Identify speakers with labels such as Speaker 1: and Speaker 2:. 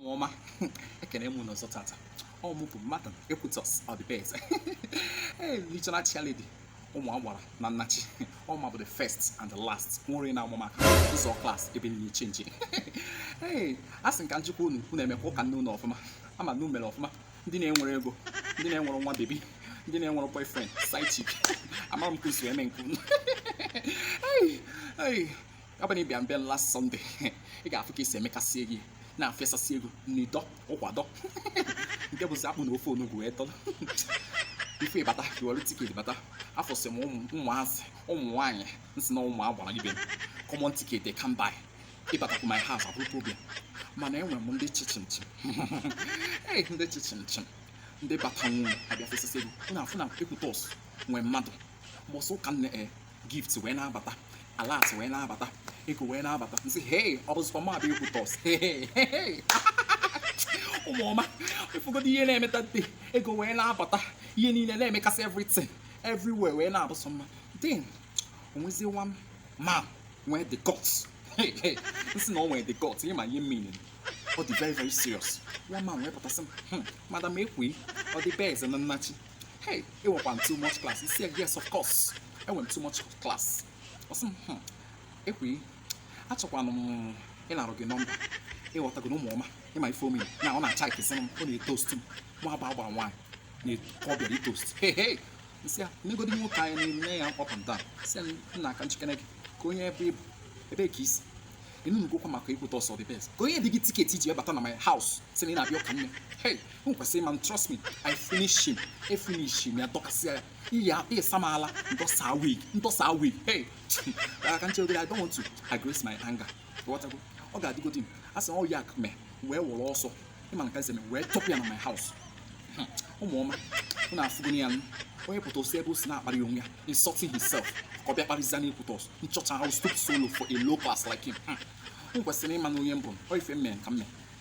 Speaker 1: ọma ekene m unu ọzọ tata ọ mụ bụ madam Ekwutọs Ọdịbeze regional chairlady ụmụ agbara na nnachi ọ mụ bụ the first and the last nwere na amụma ụzọ klas ebe niile chenji ee a sị m ka m jụkwa unu unu emekwa ụka nne unu ọfụma ama m na unu mere ọfụma ndị na-enwere ego ndị na-enwere nwa bebi ndị na-enwere boyfriend side chick amara m ka esi eme nke unu ọ bụrụ na ị bịa mbịa last Sunday ị ga-afụ ka esi emekasị ego na-efesasị ego n'idọ ụkwadọ nke bụzi akpụ na ofe onugbu wee dọrọ ife ịbata iwere tiketi bata afụsị m ụmụazị ụmụ nwaanyị m sị na ụmụ agbara ibe common tiketi can't buy ịbatakwu my house abụrụ problem mana enwere m ndị chichimchim ee ndị chichimchim ndị bata nwunye abịa fesasị ego unu afụ na Ekwutọs nwee mmadụ mbọsị ụka nne e gift wee na-abata alerts wee na-abata ego wee na-abata m sị hei ọ bụzikwa mụwa bụ Ekwutọs ụmụọma ịfụgodo ihe na-eme that day ego wee na-abata ihe niile na-emekasị everything everywhere wee na-abụsọ mma then o nwezie one man nwee the guts m sị na ọ nwee the guts ị ma ihe m mean ọ dị very very serious one man wee pụta sị m hmm, madam Ekwi Ọdịbeze na nnachi hey ị nwekwa too much class m sị yes of course enwere m too much class ọ sị m hmm, Ekwi achọkwanụ m ịnarụ gị nọmba ịghọtago na ụmụọma ị ma ife ọ mean na ọ na-achykezi m ọ na-etost m mụwa bụ agbara nwaanyị na-ekọ ọ bịara itost hey hey m sị ya negodi nwoke anya na-ene ya up and down sị ya nnaa ka m chekene gị ka onye ebe ị bụ ebe ka i si ịnụnụgokwa maka Ekwutọs Ọdịbeze ka onye dị gị tiketi i ji wee bata na my house sị na ị na-abịa ụka nne hey m kwesịrị ịma m trust me i finish him e finish m ya dọkasịa ya iyi a- iyi sam ala m tọsa wig m tọsa wig hey ka m che obere i don't want to aggress my anger ghọtago ọ ga-adịgodi m a sị na ọ ya ka mee wee were ọsọ ị ma na ka m si wee chụpụ ya na my house Hmm, ụmụọma unu afụgo ya nụ onye pụta o si ebe o si na-akparị onwe ya insulting himself ka ọ bịa kparịzia na Ekwutọs nchọcha how stoop so low for a low class like him Hmm, m kwesịrị ịma na onye m bụ m ọ ife m mere ka m mee